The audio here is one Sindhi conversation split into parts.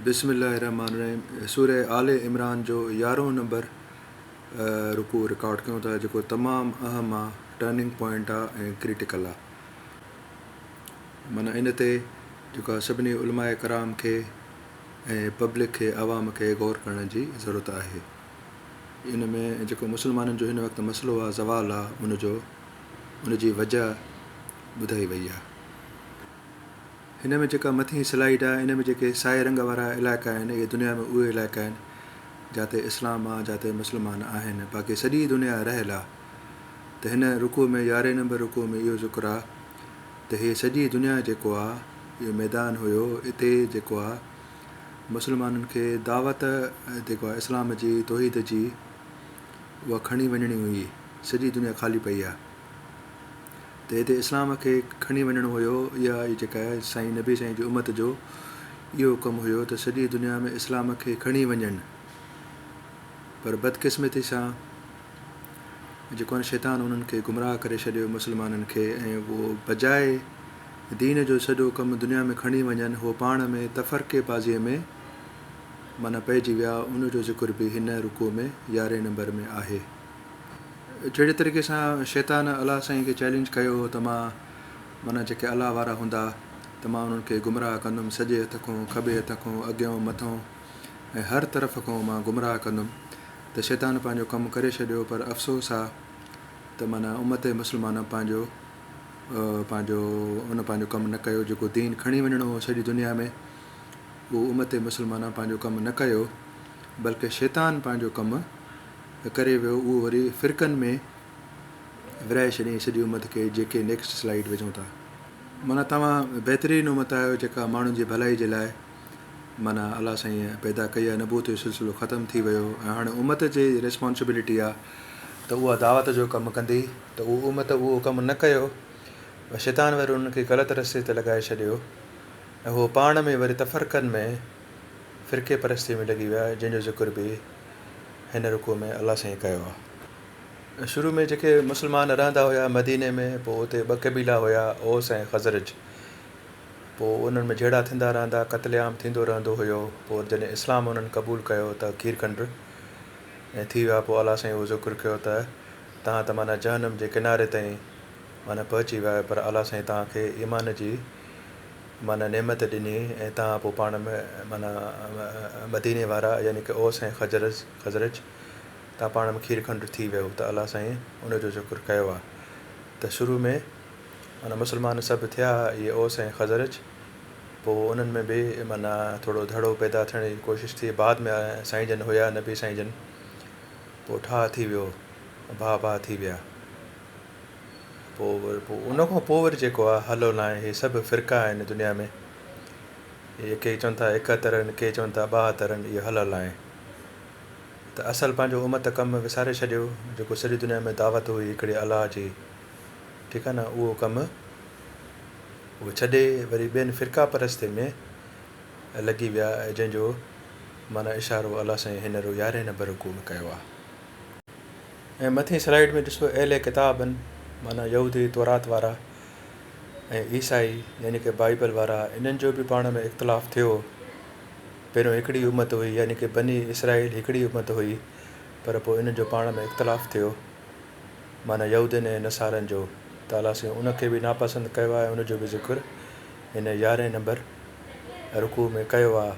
بسم الله الرحمٰن الرحيم سوره آل عمران جو يارهون نمبر رڪوع رڪارڊ ڪيون ٿا جيڪو تمام اهم آ ٽرننگ پوائنٽ آ ۽ ڪريٽيڪل آ معنيٰ ان تي جيڪا سڀني علماء ڪرام کي ۽ پبلڪ کي عوام کي غور ڪرڻ جي ضرورت آهي ان ۾ جيڪو مسلمانن جو هن وقت مسئلو آ زوال آ ان جو ان جي وجه ٻڌائي وئي آ هن ۾ جيڪا مٿين سلائيڊ آهي ان ۾ جيڪي سائي رنگ وارا علائقا آهن اهي دنيا ۾ اهي علائقا آهن جاتي اسلام آهي جاتي مسلمان آهن باقي سڄي دنيا رهيل آهي ته هن رڪوع ۾ يارهين نمبر رڪوع ۾ اهو ذڪر آهي ته هي سڄي دنيا جيڪو آهي اهو ميدان هيو اتي جيڪو آهي مسلمانن کي دعوت جيڪو آهي اسلام جي توحيد جي اها کڻي وڃڻي هئي سڄي دنيا خالي پئي آهي ته هتي اسلام کي کڻي وڃڻو هيو يا اهي جيڪا سائين نبي سائين جي امت جو اهو ڪم هيو ته سڄي دنيا ۾ اسلام کي کڻي وڃن پر بدقسمتي سان جيڪو آهن شيطان انهن کي گمراهه ڪري ڇڏيو مسلمانن کي ۽ اهو بجاء دين جو سڄو ڪم دنيا ۾ کڻي وڃن هو پاڻ ۾ تفرقي بازيء ۾ معنيٰ پئجي ويا ان جو ذڪر به هن رڪوع ۾ يارهين نمبر ۾ آهي. جهڙي طريقي سان شيطان الله سائين کي چئلينج ڪيو هو ته مان معنيٰ جيڪي الله وارا هوندا ته مان انهن کي گمراهه ڪندم سڄي هٿ کون کٻي هٿ کون اڳيئون مٿئون ۽ هر طرف کون مان گمراهه ڪندم ته شيطان پنهنجو ڪم ڪري ڇڏيو پر افسوس آ ته معنيٰ امت مسلمانه پنهنجو پنهنجو ان پنهنجو ڪم نه ڪيو جيڪو دين کڻي وڃڻو هو سڄي دنيا ۾ اهو امت مسلمانه پنهنجو ڪم نه ڪيو بلڪه شيطان پنهنجو ڪم ڪري ويو اهو وري فرقن ۾ ورهائي ڇڏيائين سڄي امت کي جيڪي نيڪسٽ سلائيڊ وجهون ٿا معنيٰ توهان بهترين امت آهيو جيڪا ماڻهن جي ڀلائي جي لاء معنيٰ الله سائين پيدا ڪئي آهي نبوت جو سلسلو ختم ٿي ويو ۽ هاڻي امت جي ريسپانسبلٽي آهي ته اها دعوت جو ڪم ڪندي ته اهو امت اهو ڪم نه ڪيو شيطان وري انهن کي غلط رستي تي لڳائي ڇڏيو ۽ اهو پاڻ ۾ وري تفرقن ۾ فرقي پرستيء ۾ لڳي ويا جنهن جو ذڪر به هن رڪوع ۾ الله سائين ڪيو آهي. شروع ۾ جيڪي مسلمان رهندا هيا مديني ۾ پوء اتي ٻه قبيلا هيا اوس ۽ خزرج پوء انهن ۾ جهيڙا ٿيندا رهندا قتل عام ٿيندو رهندو هيو پوء جڏهن اسلام انهن قبول ڪيو ته کير کنڊ ۽ ٿي ويا پوء الله سائين اهو ذڪر ڪيو ته توهان ته معنيٰ جهنم جي ڪناري تائين معنيٰ پهچي ويا آهيو پر الله سائين توهان کي ايمان جي معنيٰ نعمت ڏني ۽ تان پوء پاڻ م معنيٰ مديني وارا يعني ڪه اوس ۽ خزرز خزرج تان پاڻ م کير کنڊ ٿي ويو ته الله سائين ان جو ذڪر ڪيو آ ته شروع ۾ معنيٰ مسلمان سڀ ٿيا اهي اوس ۽ خزرج پوء انهن ۾ به معنيٰ ٿورو ڌڙو پيدا ٿيڻ جي ڪوشش ٿي بعد ۾ سائين جن هيا نبي سائين جن پوء ٺاهه ٿي ويو ڀاء ڀاء ٿي ويا. پوء وري پوء ان کان پوء وري جيڪو آهي هلو نه آهي هي سڀ فرقا آهن دنيا ۾ هي ڪي چون ٿا ايڪهتر آهن ڪي چون ٿا ٻاهتر آهن اهي هلو نه آهي ته اصل پنهنجو امت ڪم وساري ڇڏيو جيڪو سڄي دنيا ۾ دعوت هئي هڪڙي الله جي ٺيڪ آهي نه اهو ڪم اهو ڇڏي وري ٻين فرقا پرستي ۾ لڳي ويا جنهن جو معنيٰ اشارو الله سائين هينئر يارهين نمبر رڪوع ۾ ڪيو آهي ۽ مٿين سلائيڊ ۾ ڏسو اهل ڪتابن معنيٰ يهودي تورات وارا ۽ عيسائي يعني ڪه بائيبل وارا انهن جو به پاڻ ۾ اختلاف ٿيو پهريون هڪڙي امت هئي يعني ڪه بني اسرائيل هڪڙي امت هئي پر پوء انهن جو پاڻ ۾ اختلاف ٿيو معنيٰ يهودين ۽ نصارن جو ته الله سائين ان کي به ناپسند ڪيو آهي ان جو به ذڪر هن يارهين نمبر رڪوع ۾ ڪيو آهي.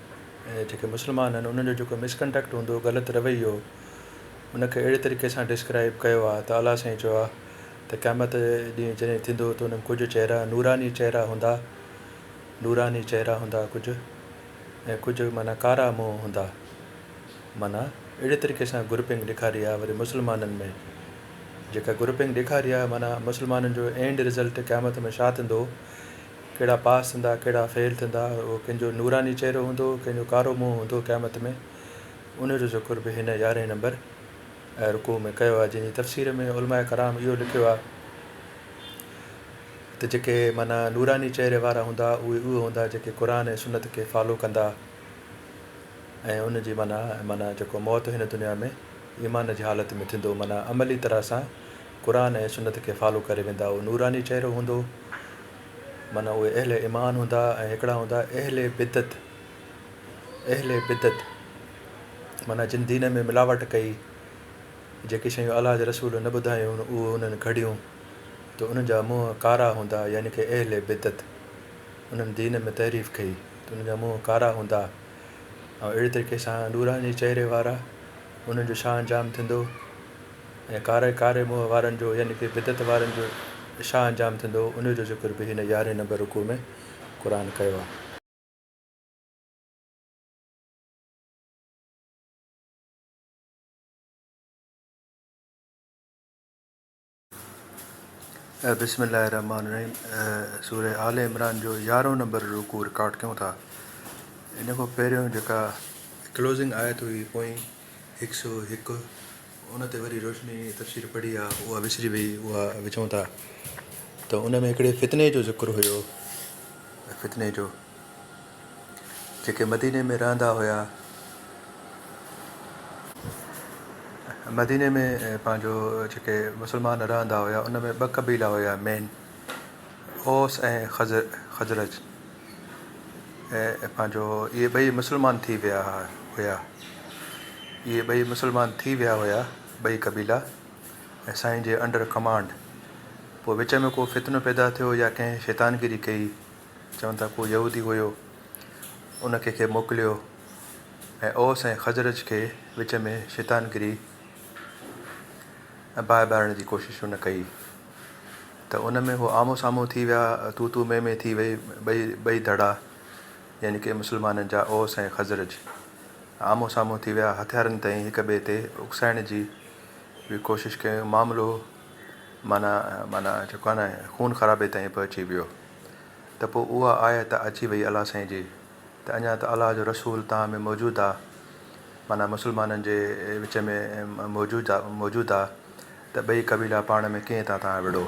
جيڪي مسلمان آهن انهن جو جيڪو مسڪنڊڪٽ هوندو هو غلط رويو ان کي اهڙي طريقي سان ڊسڪرائب ڪيو آهي ته اعليٰ سائين چيو آهي ته قيامت ڏينهن جڏهن ٿيندو ته انهن ڪجهه چهرا نوراني چهرا هوندا نوراني چهرا هوندا ڪجهه ۽ ڪجهه معنيٰ ڪارا منهن هوندا معنيٰ اهڙي طريقي سان گروپنگ ڏيکاري آهي وري مسلمانن ۾ جيڪا گروپنگ ڏيکاري آهي معنيٰ مسلمانن جو اينڊ رزلٽ قيامت ۾ ڇا ٿيندو ڪهڙا پاس ٿيندا ڪهڙا فيل ٿيندا اهو ڪنهن جو نوراني چهرو هوندو ڪنهن جو ڪارو منهن هوندو قيامت ۾ ان جو ذڪر به هن يارهين نمبر ۽ رڪوع ۾ ڪيو آهي جنهن جي تفسير ۾ علماء ڪرام اهو لکيو آهي ته جيڪي معنيٰ نوراني چهري وارا هوندا اهي اهي هوندا جيڪي قرآن ۽ سنت کي فالو ڪندا ۽ ان جي معنيٰ معنيٰ جيڪو موت هن دنيا ۾ ايمان جي حالت ۾ ٿيندو معنيٰ عملي طرح سان قرآن ۽ سنت کي فالو ڪري ويندا اهو نوراني چهرو هوندو معنيٰ اهي اهل ايمان هوندا ۽ هڪڙا هوندا اهل بدعت اهل بدعت معنيٰ جن دين ۾ ملاوٽ ڪئي جيڪي شيون الله جي رسول نه ٻڌايون اهو انهن گهڙيون ته انهن جا منهن ڪارا هوندا يعني ڪي اهل بدعت انهن دين ۾ تحريف ڪئي ته انهن جا منهن ڪارا هوندا ۽ اهڙي طريقي سان نوراني چهري وارا انهن جو شان جام ٿيندو ۽ ڪاري ڪاري منهن وارن جو يعني ڪي بدعت وارن جو ڇا انجام ٿيندو انهي جو ذڪر به هن يارهين نمبر رڪوع ۾ قرآن ڪيو آهي. بسم الله الرحمٰن الرحيم سورة آل عمران جو يارهون نمبر رڪوع رڪارڊ ڪيون ٿا. ان کان پهريون جيڪا ڪلوزنگ آيت هئي پوئين هڪ سؤ هڪ ان تي وري روشني تفسير پڙهي آ اها وسري وئي اها وچون ٿا ته ان ۾ هڪڙي فتني جو ذڪر هيو فتني جو جيڪي مديني ۾ رهندا هيا مديني ۾ پنهنجو جيڪي مسلمان رهندا هيا ان ۾ ٻه قبيلا هيا مين اوس ۽ خزرج پنهنجو اهي ٻئي مسلمان ٿي ويا هيا اهي ٻئي مسلمان ٿي ويا هيا ٻئي قبيلا ۽ سائين جي انڊر ڪمانڊ پوء وچ ۾ ڪو فتنو پيدا ٿيو يا ڪنهن شيطان گيري ڪئي چون ٿا ڪو يهودي هيو ان کي کي موڪليو ۽ اوس ۽ خزرج کي وچ ۾ شيطان گيري ۽ باهه ٻارڻ جي ڪوشش ان ڪئي ته ان ۾ هو آمهون سامهون ٿي ويا، تون تون مين مين ٿي وئي، ٻئي ٻئي ڌڙا يعني ڪي مسلمانن جا اوس ۽ خزرج آمهون سامهون ٿي ويا، هٿيارن تائين هڪ ٻئي تي اڪسائڻ جي به ڪوشش ڪيون، معاملو معنيٰ معنيٰ جيڪو آهي نه خون خرابي تائين پهچي ويو ته پوء اها آيت اچي وئي الله سائين جي. ته اڃا ته الله جو رسول توهان ۾ موجود آ، معنيٰ مسلمانن جي وچ ۾ موجود آ، ته ٻئي قبيلا پاڻ ۾ ڪيئن ٿا توهان وڙهو؟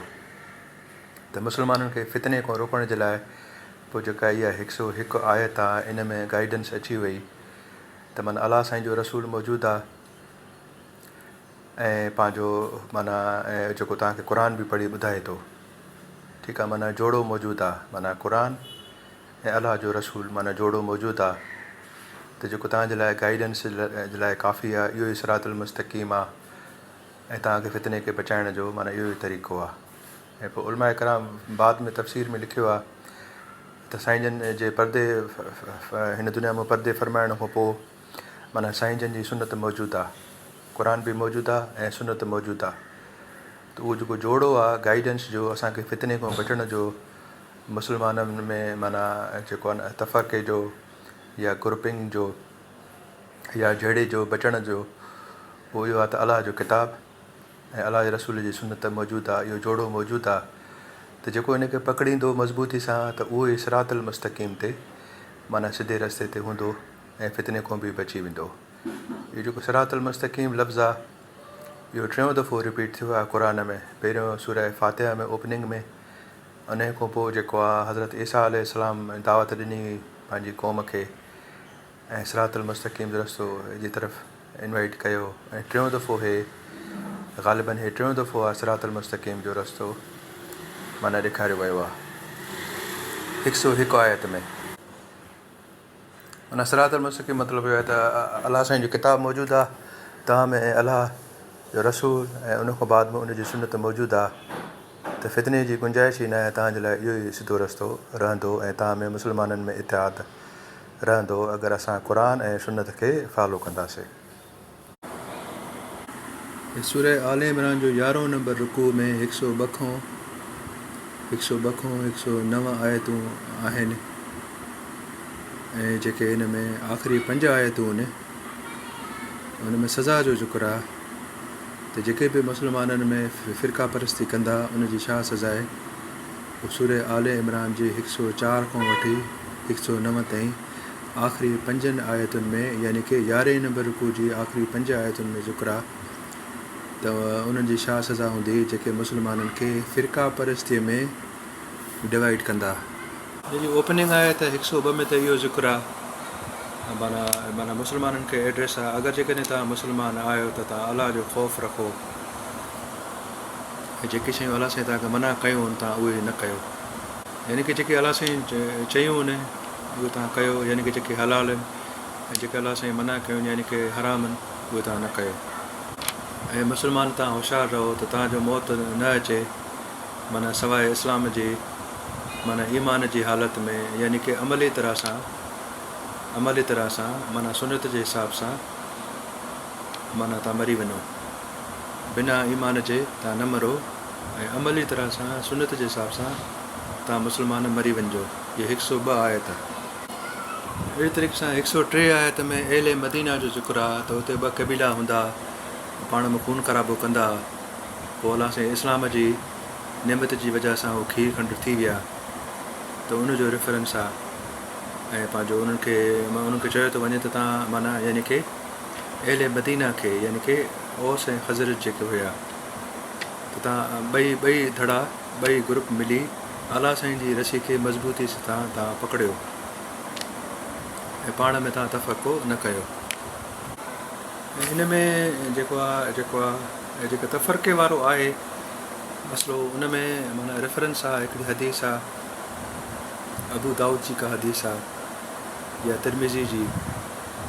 ته مسلمانن کي فتني کان روڪڻ جي لاء پوء جيڪا اها هڪ سؤ هڪ آيت آ، ان ۾ گائيڊنس اچي وئي، ته معنيٰ الله سائين جو رسول موجود آ ۽ پنهنجو معنيٰ جيڪو توهان کي قرآن به پڙهي ٻڌائي ٿو، ٺيڪ آ، معنيٰ جوڙو موجود آ، معنيٰ قرآن. ۽ الله جو رسول معنيٰ جوڙو موجود آ ته جيڪو توهان جي لاء گائيڊنس جي لاء ڪافي آ اهو ئي صراط المستقيم آ ۽ توهان کي فتني کي بچائڻ جو معنيٰ اهو ئي طريقو آ ۽ پوء علماء ڪرام بعد ۾ تفسير ۾ لکيو آ ته سائين جن جي پردي هن دنيا مون پردي فرمائڻ کان پوء معنيٰ سائين جن جي سنت موجود آ قرآن به موجود آ ۽ سنت موجود آ ته اهو جيڪو جوڙو آ گائيڊنس جو اسان کي فتني کان بچڻ جو مسلمانن ۾ معنيٰ جيڪو آهي نه تفرقي جو يا گروپنگ جو يا جهيڙي جو بچڻ جو اهو اهو آهي ته الله جو ڪتاب ۽ الله جي رسول جي سنت موجود آهي اهو جوڙو موجود آهي ته جيڪو ان کي پڪڙيندو مضبوطي سان ته اهو ئي صراط المستقيم تي معنيٰ سڌي رستي تي هوندو ۽ فتني کون به بچي ويندو اهو جيڪو صراط المستقيم لفظ آهي اهو ٽيون دفعو رپيٽ ٿيو آهي قرآن ۾ پهريون سورة فاتحة ۾ اوپننگ ۾ انهيء کان پوء جيڪو آ حضرت عيسيٰ عليه السلام ۾ دعوت ڏني هئي پنهنجي قوم کي ۽ صراط المستقيم جو رستو جي طرف انوائيٽ ڪيو ۽ ٽيون دفعو هي غالباً هي ٽيون دفعو آ صراط المستقيم جو رستو معنيٰ ڏيکاريو ويو آ هڪ سؤ هڪ آيت ۾. ان صراط المستقيم مطلب اهو آهي ته الله سائين جو ڪتاب موجود آ تنهن ۾ الله جو رسول ۽ ان کان بعد به ان جي سنت موجود آ ته فتني جي گنجائش ئي ناهي توهان جي لاء اهو ئي سڌو رستو رهندو ۽ توهان ۾ مسلمانن ۾ اتحاد رهندو اگر اسان قرآن ۽ سنت کي فالو ڪنداسي. سورة آل عمران جو يارهون نمبر رڪوع ۾ هڪ سؤ ٻه کون هڪ سؤ ٻه کون هڪ سؤ نو آيتون آهن ۽ جيڪي ان ۾ آخري پنج آيتون ان ۾ سزا جو ذڪر آهي ته جيڪي به مسلمانن ۾ فرقا پرستي ڪندا ان جي ڇا سزا آهي سورة آل عمران جي هڪ سؤ چار کون وٺي هڪ سؤ نو تائين آخري پنجن آيتن ۾ يعني ڪي يارهين نمبر رڪوع جي آخري پنج آيتن ۾ ذڪرا ته انهن جي ڇا سزا هوندي جيڪي مسلمانن کي فرقه پرستيء ۾ ڊوائيڊ ڪندا. جنهن جي اوپننگ آيت هڪ سؤ ٻه ۾ ته اهو ذڪر آ معنيٰ مسلمانن کي ايڊريس آ اگر جيڪڏهن توهان مسلمان آهيو ته توهان الله جو خوف رکو ۽ جيڪي شيون الله سائين توهان کي منع ڪيون ان توهان اهي نه ڪيو. يعني ڪه جيڪي الله سائين چيو آهن اهي توهان ڪيو يعني ڪه جيڪي حلال آهن ۽ جيڪي الله سائين منع ڪيو آهن يعني ڪه حرام آهن اهي توهان نه ڪيو اي مسلمان توهان هوشيار رهو ته توهان جو موت نه اچي معنيٰ سواء اسلام جي معنيٰ ايمان جي حالت ۾ يعني ڪه عملي طرح سان عملي طرح سان معنيٰ سنت جي حساب سان معنيٰ توهان مري وڃو بنا ايمان جي توهان نه مرو ۽ عملي طرح سان سنت جي حساب سان توهان مسلمان مري وڃجو جي هڪ سؤ ٻه آيت آهي اهڙي طريقي سان هڪ سؤ ٽي آيت ۾ اهل مدينه جو ذڪر آ ته اتي ٻه قبيلا هوندا پاڻ ۾ خون خرابو ڪندا پوء الله سائين اسلام جي نعمت جي وجه سان هو کير کنڊ ٿي ويا ته ان جو ريفرنس آ ۽ پنهنجو انهن کي انهن کي چيو ٿو وڃي ته تان معنيٰ يعني کي اهل مدينه کي يعني کي اوس ۽ خزرج جيڪي هيا تتان ٻئي ٻئي ڌڙا، ٻئي گروپ ملي آلا سائين جي رسي کي مضبوطي سٿان تان پڪڙيو ۽ پاڻ ۾ تان تفرقو نه ڪيو. ۽ ان ۾ جيڪو آ جيڪو آ جيڪو تفرقي وارو آهي مسئلو ان ۾ معنيٰ ريفرنس آ هڪڙي حديث آ ابو دائود جي ڪا حديث آ يا ترمذي جي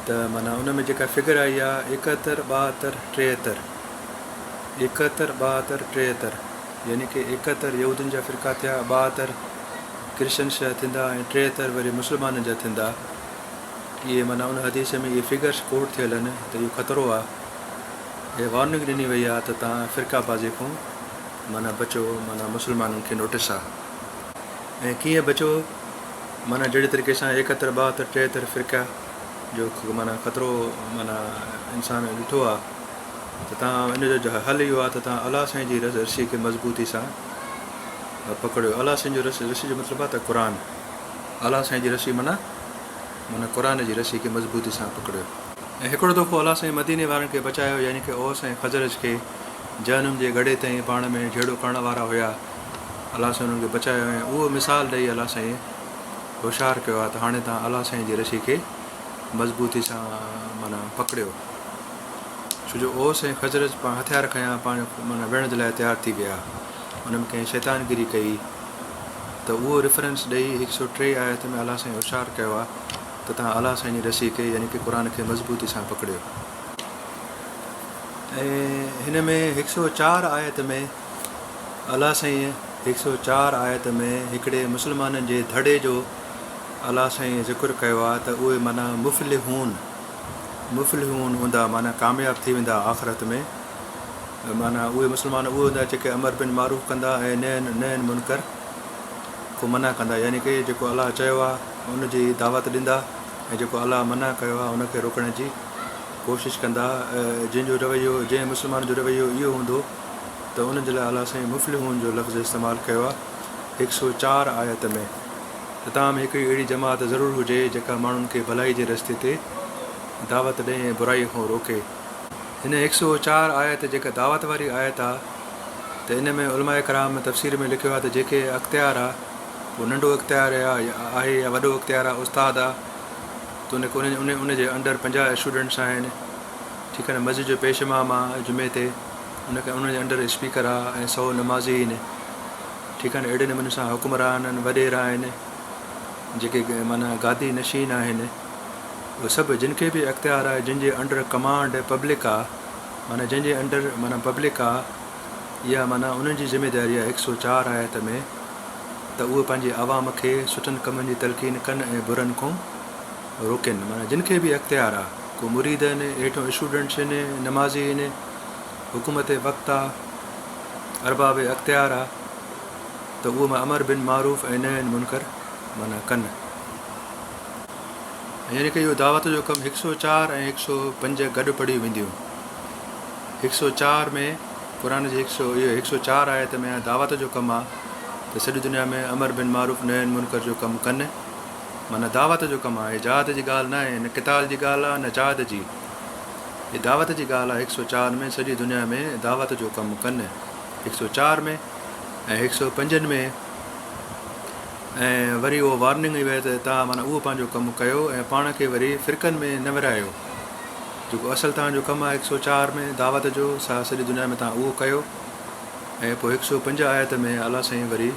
ته معنيٰ ان ۾ جيڪا فگر آئي آ ايڪهتر ٻاهتر ٽيهتر ايڪهتر، ٻاهتر، ٽيهتر يعني ڪي ايڪهتر يهودين جا فرقا ٿيا، ٻاهتر ڪرشچنس جا ٿيندا ۽ ٽيهتر وري مسلمانن جا ٿيندا. اهي معنيٰ ان حديث ۾ اهي فگرس ڪوٽ ٿيل آهن ته اهو خطرو آهي. اهي وارننگ ڏني وئي آهي ته توهان فرقه بازي کون معنيٰ بچو معنيٰ مسلمانن کي نوٽس آهي. ۽ ڪيئن بچو معنيٰ جهڙي طريقي سان ايڪهتر، ٻاهتر، ٽيهتر فرقه جو معنيٰ خطرو معنيٰ انسان ڏٺو آهي. ته تان ان جو حل اهو آهي ته تان الله سائين جي رس رسي کي مضبوطي سان پڪڙيو الله سائين جو رس رسي جو مطلب آهي ته قرآن الله سائين جي رسي معنيٰ معنيٰ قرآن جي رسي کي مضبوطي سان پڪڙيو ۽ هڪڙو دفعو الله سائين مديني وارن کي بچايو يعني ڪه اوس ۽ خزرج کي جهنم جي گڙهي تائين پاڻ ۾ جهيڙو ڪرڻ وارا هيا الله سائين انهن کي بچايو ۽ اهو مثال ڏئي الله سائين هوشيار ڪيو آهي ته هاڻي تان الله سائين جي رسي کي مضبوطي سان معنيٰ پڪڙيو. ڇو جو اوس ۽ خزرج پاڻ هٿيار کنيا پاڻ معنيٰ وڙهڻ جي لاء تيار ٿي ويا. انهن ۾ ڪنهن شيطان گيري ڪئي ته اهو ريفرنس ڏئي هڪ سؤ ٽي آيت ۾ اعليٰ سائين هوشيار ڪيو آهي ته توهان اعليٰ سائين جي رسي کي يعني ڪه قرآن کي مضبوطي سان پڪڙيو ۽ هن ۾ هڪ سؤ چار آيت ۾ اعليٰ سائين هڪ سؤ چار آيت ۾ هڪڙي مسلمانن جي ڌڙي جو اعليٰ سائين ذڪر ڪيو آهي ته اهي معنيٰ مفلحون مفلحون هوندا معنيٰ ڪامياب ٿي ويندا آخرت ۾ معنيٰ اهي مسلمان اهي هوندا جيڪي امر بن معروف ڪندا ۽ نهي عن منڪر کون منع ڪندا يعني ڪي جيڪو الله چيو آهي ان جي دعوت ڏيندا ۽ جيڪو الله منع ڪيو آهي ان کي روڪڻ جي ڪوشش ڪندا جن جو رويو جنهن مسلمان جو رويو اهو هوندو ته ان جي لاء الله سائين مفلحون جو لفظ استعمال ڪيو آهي هڪ سؤ چار آيت ۾ ته تان ۾ هڪڙي اهڙي جماعت ضرور هجي جيڪا ماڻهن کي ڀلائي جي رستي تي دعوت ڏئي ۽ برائي کان روڪي. هن هڪ سئو چار آيت جيڪا دعوت واري آيت آ ته ان ۾ علماء ڪرام تفسير ۾ لکيو آ ته جيڪي اختيار آ اهو ننڍو اختيار آ آهي يا وڏو اختيار آ استاد آ تون کي ان ان ان جي انڊر پنجاهه اسٽوڊنٽس آهن ٺيڪ آ نه مسجد جو پيش امام آ جمعي تي ان کي ان جي انڊر اسپيڪر آ ۽ سئو نمازي هين ٺيڪ آهن اهڙي نموني سان حڪمرانن وڏيرا آهن جيڪي معنيٰ گادي نشين آهن اهي سڀ جن کي به اختيار آهي جن جي انڊر ڪمانڊ پبلڪ آهي معنيٰ جن جي انڊر معنيٰ پبلڪ آهي اها معنيٰ انهن جي ذميداري آهي هڪ سؤ چار آيت ۾ ته اهي پنهنجي عوام کي سٺن ڪمن جي تلقين ڪن ۽ برن کون روڪين معنيٰ جن کي به اختيار آهي ڪو مريد آهن ايٺون اسٽوڊنٽس آهن نمازي آهن حڪومت وقت آ، ارباب اختيار آ ته اهو معنيٰ امر بن معروف ۽ نهي عن منڪر معنيٰ ڪن. ۽ يعني ڪه اهو دعوت جو ڪم هڪ سؤ چار ۽ هڪ سؤ پنج گڏ پڙهيون وينديون. هڪ سؤ چار ۾ قرآن جي هڪ سؤ اهي هڪ سؤ چار آيت ۾ آ دعوت جو ڪم آ ته سڄي دنيا ۾ امر بن معروف نهي عن منڪر جو ڪم ڪن معنيٰ دعوت جو ڪم آ اهي جهاد جي ڳالهه ناهي نه قتال جي ڳالهه آ نه جهاد جي هي دعوت جي ڳالهه آهي هڪ سؤ چار ۾ سڄي دنيا ۾ دعوت جو ڪم ڪن هڪ سؤ چار ۾ ۽ هڪ سؤ پنجن ۾ ۽ وري اهو وارننگ هئي ته توهان معنيٰ اهو پنهنجو ڪم ڪيو ۽ پاڻ کي وري فرقن ۾ نه ورهايو جيڪو اصل توهان جو ڪم آهي هڪ سؤ چار ۾ دعوت جو سا سڄي دنيا ۾ توهان اهو ڪيو ۽ پوء هڪ سؤ پنج آيت ۾ الله سائين وري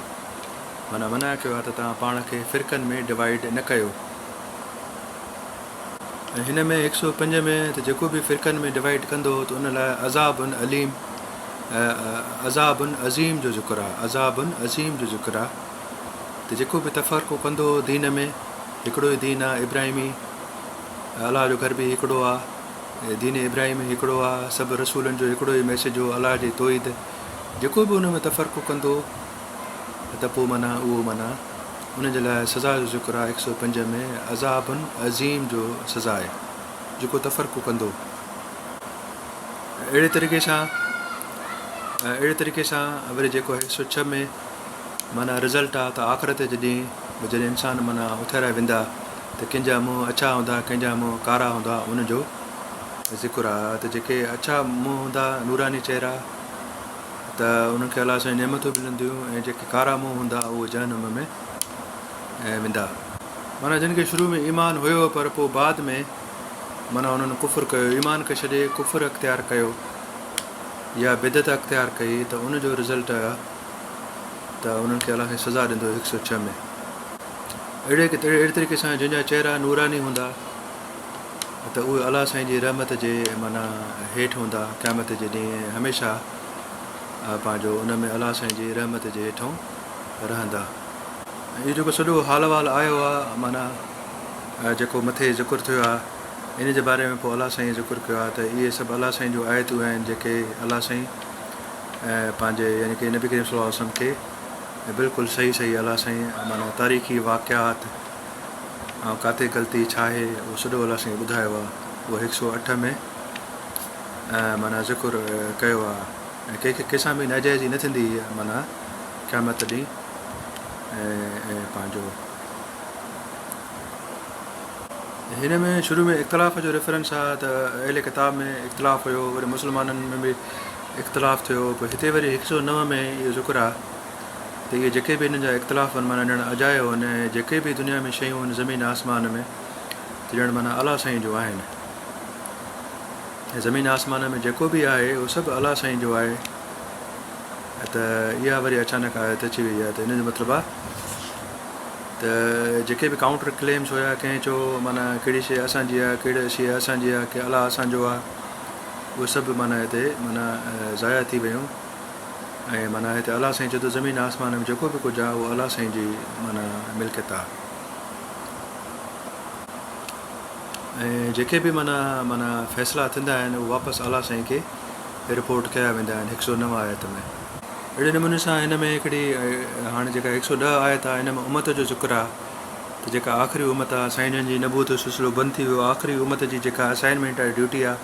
معنيٰ منع ڪيو آهي ته توهان پاڻ کي فرقن ۾ ڊوائيڊ نه ڪيو ۽ هن ۾ هڪ سؤ پنج ۾ ته جيڪو به فرقن ۾ ڊوائيڊ ڪندو ته ان لاء عذاب عليم عذاب عظيم جو ذڪر آهي عذاب عظيم جو ذڪر آهي ته جيڪو به تفرقو ڪندو دين ۾ هڪڙو ئي دين آهي ابراهيمي الله جو گھر به هڪڙو آهي دين ابراهيمي هڪڙو آهي سڀ رسولن جو هڪڙو ئي ميسج هو الله جي توحيد جيڪو به ان ۾ تفرقو ڪندو ته پوء معنيٰ اهو معنيٰ ان جي لاء سزا جو ذڪر آهي هڪ سؤ پنج ۾ عذاب عظيم جو سزا آهي جيڪو تفرقو ڪندو اهڙي طريقي سان اهڙي طريقي سان وري جيڪو آهي هڪ سؤ ڇهه ۾ معنيٰ رزلٽ آ ته آخرت جي ڏينهن به جڏهن انسان معنيٰ اٿاريا ويندا ته ڪنهن جا منهن اڇا هوندا ڪنهن جا منهن ڪارا هوندا ان جو ذڪر آ ته جيڪي اڇا منهن هوندا نوراني چهرا ته انهن کي الله سان نعمتون ملنديون ۽ جيڪي ڪارا منهن هوندا اهي جهنم ۾ ويندا. معنيٰ جن کي شروع ۾ ايمان هيو پر پوء بعد ۾ معنيٰ انهن ڪفر ڪيو، ايمان کي ڇڏي ڪفر اختيار ڪيو يا بدعت اختيار ڪئي ته ان جو رزلٽ اهي ته انهن کي الله سائين سزا ڏيندو هڪ سؤ ڇهه ۾. اهڙي طريقي سان جن جا چهرا نوراني هوندا. ته اهي الله سائين جي رحمت جي معنيٰ هيٺ هوندا قيامت جي ڏينهن هميشه پنهنجو ان ۾ الله سائين جي رحمت جي هيٺون رهندا ۽ اهو جيڪو سڄو حال احوال آيو آهي معنيٰ جيڪو مٿي ذڪر ٿيو آهي ان جي باري ۾ پوء الله سائين ذڪر ڪيو آهي ته اهي سڀ الله سائين جون آيتون آهن جيڪي الله سائين پنهنجي يعني ڪي نبي ڪريم صلي الله عليه وسلم کي بلڪل صحيح صحيح الله سائين معنيٰ تاريخي واقعات آئون ڪاٿي غلطي ڇا آهي اهو سڏو الله سائين ٻڌايو آهي اهو هڪ سؤ اٺ ۾ معنيٰ ذڪر ڪيو آهي ۽ ڪنهن کي ڪنهنسان به ناجائزي نه ٿيندي معنيٰ قيامت ڏينهن ۽ پنهنجو هن ۾ شروع ۾ اختلاف جو ريفرنس آهي ته اهل ڪتاب ۾ اختلاف هيو وري مسلمانن ۾ به اختلاف ٿيو پوء هتي وري هڪ سؤ نو ۾ اهو ذڪر آهي ته اهي جيڪي به انهن جا اختلاف هن معنيٰ ڄڻ اجايو هن ۽ جيڪي به دنيا ۾ شيون هن زمين آسمان ۾ ته ڄڻ معنيٰ الله سائين جو آهن ۽ زمين آسمان ۾ جيڪو به آهي اهو سڀ الله سائين جو آهي ته اها وري اچانڪ آيت اچي وئي آهي ته ان جو مطلب آهي ته جيڪي به ڪاؤنٽر ڪليمس هيا ڪنهن چو معنيٰ ڪهڙي شيء اسان جي آهي ڪهڙي شيء اسان جي آهي ڪي الله اسان جو آهي اهو سڀ معنيٰ هتي معنيٰ ضايع ٿي ويون ۽ معنيٰ هتي الله سائين چئي ٿو زمين ۽ آسمان ۾ جيڪو به ڪجهه آهي اهو الله سائين جي معنيٰ ملڪيت آهي ۽ جيڪي به معنيٰ معنيٰ فيصلا ٿيندا آهن اهو واپس الله سائين کي رپورٽ ڪيا ويندا آهن هڪ سؤ نو آيت ۾ اهڙي نموني سان هن ۾ هڪڙي هاڻي جيڪا هڪ سؤ ڏهه آيت آهي هن ۾ امت جو ذڪر آهي ته جيڪا آخري امت آهي سائين جن جي نبوت جو سلسلو بند ٿي ويو آخري امت جي جيڪا اسائنمينٽ آهي ڊيوٽي آهي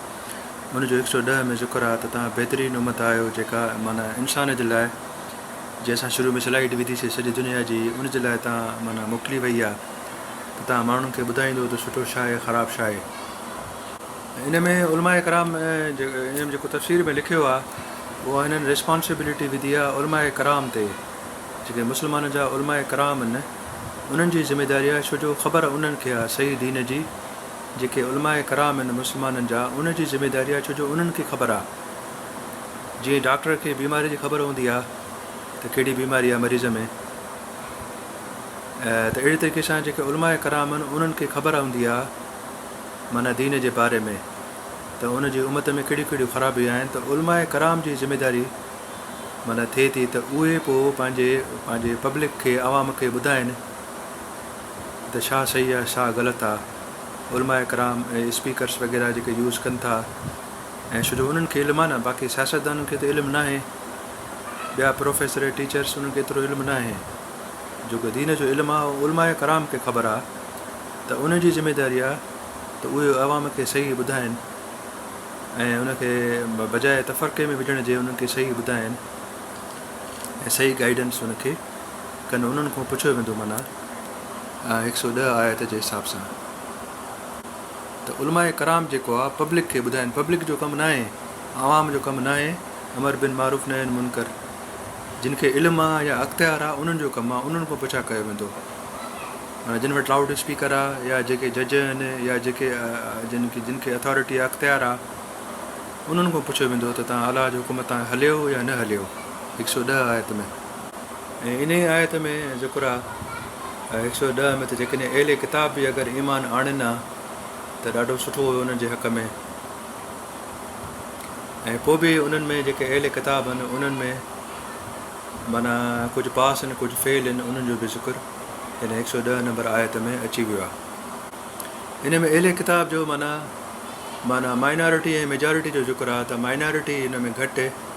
ان جو هڪ سؤ ڏهه ۾ ذڪر آهي ته توهان بهترين امت آهيو جيڪا معنيٰ انسان جي لاء جنهن اسان شروع ۾ سلائيڊ وڌي سي سڄي دنيا جي ان جي لاء توهان معنيٰ موڪلي وئي آهي ته توهان ماڻهن کي ٻڌائيندو ته سٺو ڇا آهي خراب ڇا آهي ان ۾ علماء ڪرام ان جيڪو تفسير ۾ لکيو آهي اها هنن ريسپانسبلٽي وڌي آهي علماء ڪرام تي جيڪي مسلمانن جا علماء ڪرام آهن انهن جي ذميداري آهي ڇو جو خبر انهن کي آهي صحيح دين جي جيڪي علماء ڪرام آهن مسلمانن جا ان جي ذميداري آهي ڇو جو انهن کي خبر آهي جيئن ڊاڪٽر کي بيماري جي خبر هوندي آهي ته ڪهڙي بيماري آهي مريض ۾ ته اهڙي طريقي سان جيڪي علماء ڪرام آهن انهن کي خبر هوندي آهي معنيٰ دين جي باري ۾ ته ان جي امت ۾ ڪهڙيون ڪهڙيون خرابيون آهن ته علماء ڪرام جي ذميداري معنيٰ ٿئي ٿي ته اهي پوء پنهنجي پنهنجي پبلڪ کي عوام کي ٻڌائن ته ڇا صحيح آهي ڇا غلط آهي علماء ڪرام ۽ اسپيڪرس وغيره جيڪي يوز ڪن ٿا ۽ ڇو جو انهن کي علم آهي نه باقي سياستدانن کي ته علم ناهي ٻيا پروفيسر ٽيچرس انهن کي ايترو علم ناهي جيڪو دين جو علم آهي اهو علماء ڪرام کي خبر آهي ته ان جي ذميداري آهي ته اهي عوام کي صحيح ٻڌائن ۽ ان کي بجاء تفرقي ۾ وجهڻ جي انهن کي صحيح ٻڌائن ۽ صحيح گائيڊنس ان کي ڪن انهن کان پڇيو ويندو معنيٰ هڪ سؤ ڏهه آيت جي حساب سان ته علماء ڪرام جيڪو آ پبلڪ کي ٻڌائين پبلڪ جو ڪم ناهي عوام جو ڪم ناهي امر بن معروف نهي عن منڪر جن کي علم آ يا اختيار آ انهن جو ڪم آ انهن کان پڇا ڪيو ويندو معنی جن وٽ لاؤڊ اسپيڪر آ يا جيڪي جج آهن يا جيڪي جن کي جن کي اٿارٽي آ اختيار آ انهن کان پڇيو ويندو ته تان الله جو حڪم تان هليو يا نه هليو هڪ سؤ ڏهه آيت ۾ ۽ انهيء آيت ۾ ذڪر آهي، آء هڪ سؤ ڏهه ۾ ته جيڪڏهن اهل ڪتاب به اگر ايمان آڻين ها ته ڏاڍو سٺو هيو انهن جي حق ۾، ۽ پوء به انهن ۾ جيڪي اهل ڪتاب هن انهن ۾ معنيٰ ڪجهه پاس هن ڪجهه فعل هن انهن جو به ذڪر هن هڪ سؤ ڏهه نمبر آيت ۾ اچي ويو آهي. ان ۾ اهل ڪتاب جو معنيٰ معنيٰ مائنارٽي ۽ ميجارٽي جو ذڪر آهي ته مائنارٽي ان ۾ گهٽ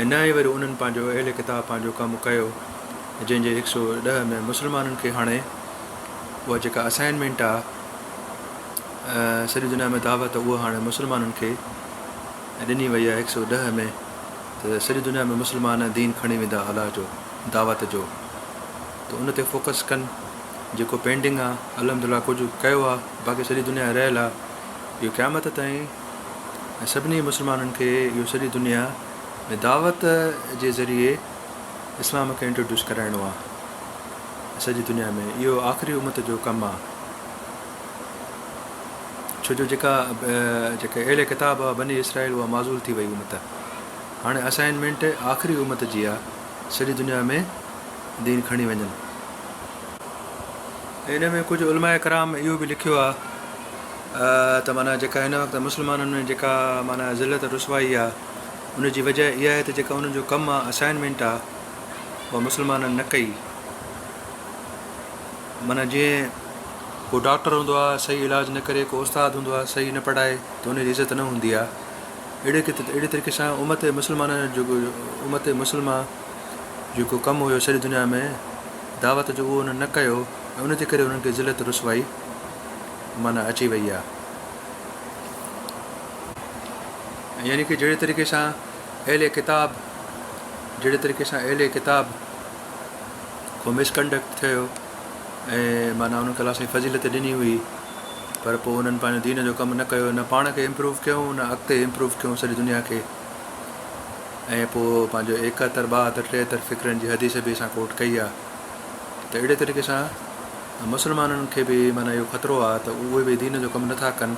۽ نه ئي وري انهن پنهنجو اهل ڪتاب پنهنجو ڪم ڪيو جنهن جي هڪ سؤ ڏهه ۾ مسلمانن کي هڻي اها جيڪا اسائنمينٽ آ سڄي دنيا ۾ دعوت اها هاڻي مسلمانن کي ڏني وئي آ هڪ سؤ ڏهه ۾ ته سڄي دنيا ۾ مسلمان دين کڻي ويندا الله جو دعوت جو ته ان تي فوڪس ڪن جيڪو پينڊنگ آ الحمدلله ڪجهه ڪيو آ باقي سڄي دنيا رهيل آ اهو قيامت تائين ۽ سڀني مسلمانن کي اهو سڄي دنيا ۾ دعوت جي ذريعي اسلام کي انٽروڊيوس ڪرائڻو آ ۽ سڄي دنيا ۾ اهو آخري امت جو ڪم آ ڇو جو جيڪا جيڪي اهل ڪتاب هئا بني اسرائيل اها معذول ٿي وئي امت هاڻي اسائنمينٽ آخري امت جي آ سڄي دنيا ۾ دين کڻي وڃن ان ۾ ڪجهه علماء ڪرام اهو به لکيو آ ته معنيٰ جيڪا هن وقت مسلمانن ۾ جيڪا معنيٰ ذلت ۽ رسوائي آ ان جي وجه اها آهي ته جيڪا انهن جو ڪم آ اسائنمينٽ آ اها مسلمانن نه ڪئي معنيٰ جيئن ڪو ڊاڪٽر هوندو آ صحيح علاج نه ڪري ڪو استاد هوندو آ صحيح نه پڙهائي ته ان جي عزت نه هوندي آ اهڙي اهڙي طريقي سان امت مسلمانن جو جيڪو امت مسلمه جيڪو ڪم هيو سڄي دنيا ۾ دعوت جو اهو انهن نه ڪيو ۽ ان جي ڪري انهن کي ذلت رسوائي معنيٰ اچي وئي آهي. يعني ڪه جهڙي طريقي سان اهل ڪتاب جهڙي طريقي سان اهل ڪتاب ڪو مس ڪنڊڪٽ ٿيو ۽ معنيٰ انهن ڪلا سائين فضيلت ڏني هئي پر پوء انهن پنهنجو دين جو ڪم نه ڪيو نه پاڻ کي امپروو ڪيو نه اڳتي امپروو ڪيو سڄي دنيا کي ۽ پوء پنهنجو ايڪهتر ٻاهتر ٽيهتر فڪرن جي حديث به اسان ڪوٽ ڪئي آهي ته اهڙي طريقي سان مسلمانن کي به معنيٰ اهو خطرو آ ته اهي به دين جو ڪم نٿا ڪن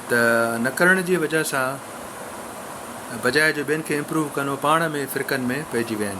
ته نه ڪرڻ جي وجه سان بجاء جو ٻين کي امپروو ڪن اهي پاڻ ۾ فرقن ۾ پئجي ويا آهن.